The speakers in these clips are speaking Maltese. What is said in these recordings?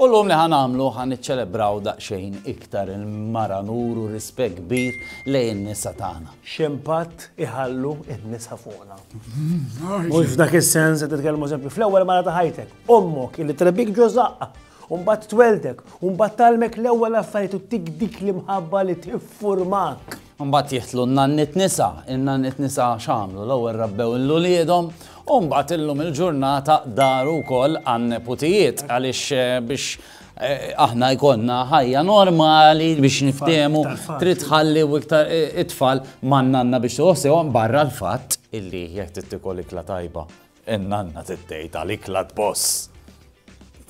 U llum li ħa nagħmlu, ħa niċċelebraw daqsxejn iktar il-mara nuru rispett kbir lejn in-nisa tagħna. X'impatt iħallu n-nisa fuqna? Mhux f'dak is-sens qed nitkellmu eżempju fl-ewwel mara ta' ħajtek, ommok illi trebbik ġo żaqqha, u mbagħad twelddek, u mbagħad tgħallmek l-ewwel affarijiet u ttik dik l-imħabba li tiffurmak. Imbagħad jidħlu n-nanniet nisa. In-nanniet nisa x'għamlu? L-ewwel rabbew 'l uliedhom u mbagħad illum il-ġurnata daru wkoll għan-neputijiet għaliex biex aħna jkollna ħajja normali biex niftiehmu trid tħalli iktar it-tfal man-nanna biex tieħu ħsiebhom barra l-fatt illi jekk trid tiekol ikla tajba In-nanna trid tgħid għalik la tboss.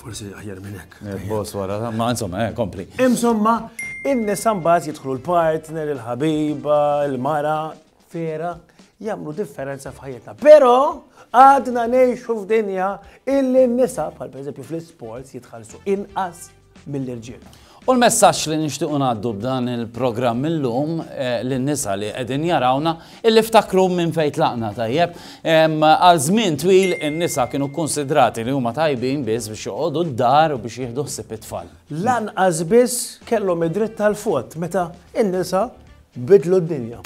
Forsi aħjar minn hekk. Boss wara, ma insomma, eh, kompli. Insomma, in-nisa mbagħad jidħlu l-partner, il-ħabiba, il-mara, vera, jagħmlu differenza f'ħajjitna. Però għadna ngħixu f'dinja illi n-nisa, bħal pereżempju fl-isports, jitħallsu inqas mill-irġiel. U l-messaġġ li nixtiequ ngħaddu b'dan il-programm illum eh, lin-nisa li qegħdin jarawna illi ftakru minn fejn tlaqna tajjeb. Għal żmien twil in-nisa kienu kkunsidrati li huma tajbin biss biex joqogħdu d-dar u biex jieħdu ħsieb it-tfal. Lanqas biss kellhom id-dritt tal-fot meta in-nisa Biddlu d-dinja.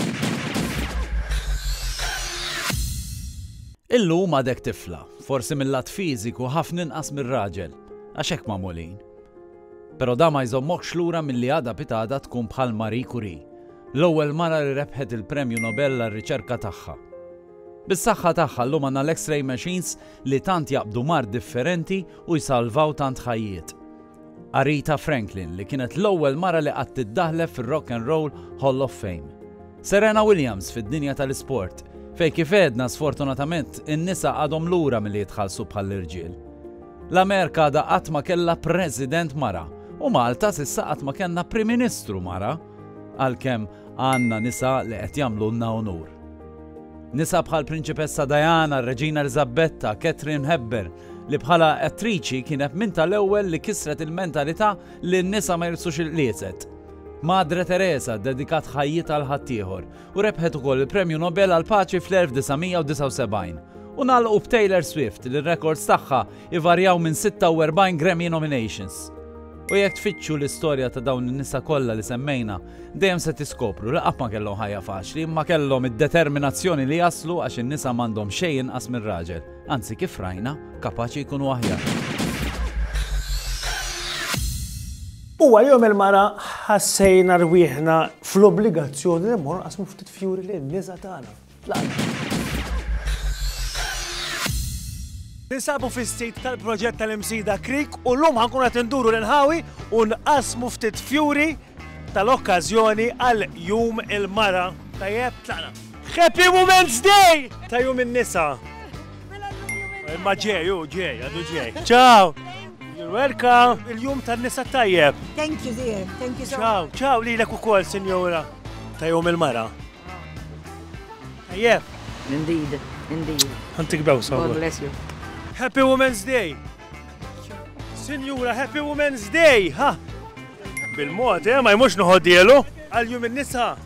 Illum għadek tifla, forsi mil-lat fiżiku ħafna inqas mir-raġel, għax hekk magħmulin. Però dan ma jżommokx lura milli għada pitgħada tkun bħal Marie Curie, l-ewwel mara li rebħet il-Premju Nobel għar-riċerka tagħha. Bis-saħħa tagħha llum għandna l-X-ray machines li tant jaqbdu mard differenti u jsalvaw tant ħajjiet. Aretha Franklin, li kienet l-ewwel mara li qatt iddaħħlef fir-Rock and Roll Hall of Fame. Serena Williams fid-dinja tal-isport, fejn kif għedna sfortunatament in-nisa għadhom lura milli jitħallsu bħall-irġiel. L-Amerika għadha qatt ma kellha President mara u Malta s'issa qatt ma kellna Prim Ministru mara. Għalkemm għandna nisa li qed jagħmlulna unur. Nisa bħal Prinċipessa Diana, Reġina Eliżabetta, Katherine Hepburn, li bħala attriċi kienet minn tal-ewwel li kisret il-mentalità li n-nisa ma jilbsux il-qliezet. Madre Teresa ddedikat ħajjitha għal ħaddieħor u rebħet ukoll il-Premju Nobel għall-Paċi fl-1979. U nagħlqu b'Taylor Swift li r-rekords tagħha ivarjaw minn 46 Grammy nominations. U jekk tfittxu l-istorja ta' dawn in-nisa kollha li semmejna, dejjem se tiskopru li qatt ma kellhom ħajja faċli imma kellhom id-determinazzjoni li jaslu għax in-nisa m'għandhom xejn inqas mir-raġel, anzi kif rajna, kapaċi jkunu aħjar. Huwa jom il-mara ħassejna rwieħna fl-obbligazzjoni li mmorru nqasmu ftit fjuri lin nisa tagħna. Ninsabu fis-sit tal-proġett tal-Imsida Creek u l-lum ħankun qed induru l-inħawi u nqasmu ftit fjuri tal-okkażjoni għal Jum il-Mara. Tajjeb, tlaqna. Happy Women's Day! Ta' jum in-nisa. Imma ġej, u ġej, għadu ġej. Ciao! You're welcome! Il-jum tan-nisa tajjeb. Thank you, dear. Thank you so much. Ciao, ciao, lilek ukoll, sinjora. Ta' jum il-mara. Tajjeb. Indeed, indeed. Antik bewsa. God bless you. Happy Women's Day. Sinjura, Happy Women's Day. Ha. Bil-mod, eh, ma jmux nħoddielu. Għal-jum il-nisa.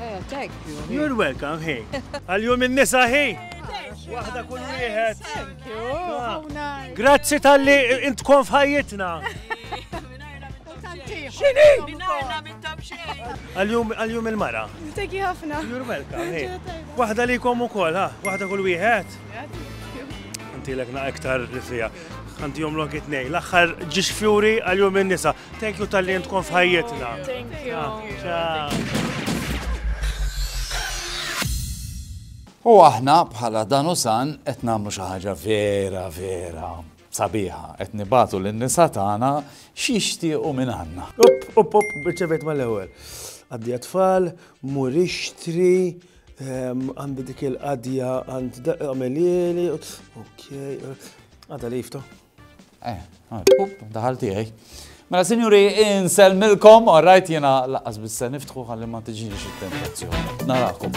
Eh, thank you. You're welcome, hey. Għal-jum il-nisa, hey. Waħda kull wieħed. Thank you. Grazzi tal-li intkom f'ħajjitna. Xini? Għal-jum għal-jum il-mara. Teki ħafna. You're welcome. Waħda li kom ukoll, ha? Waħda kull wieħed. Inti l na iktar li fija. Għanti jom lok it-nej. L-axħar ġiġ fjuri għal-jum il-nisa. Thank you tal-li jentkom fħajjetna. Thank you. Ah, u aħna bħala dan u san qed nagħmlu xi ħaġa vera vera Sabiħa, qed nibagħtu lin-nisa tagħna x'jixtiequ mingħandna. Opp, opp, opp, irċevejt mal-ewwel. Għaddi għat-tfal, mur ixtri, għandi dik il-qadja għand għamelieli, ok, għadha li jiftu. Eh, daħal tiegħi. Mela, sinjuri, insellmilkom, all right, jena laqqas bissa niftħu għalli ma tiġini xit-tentazzjoni. Narakom.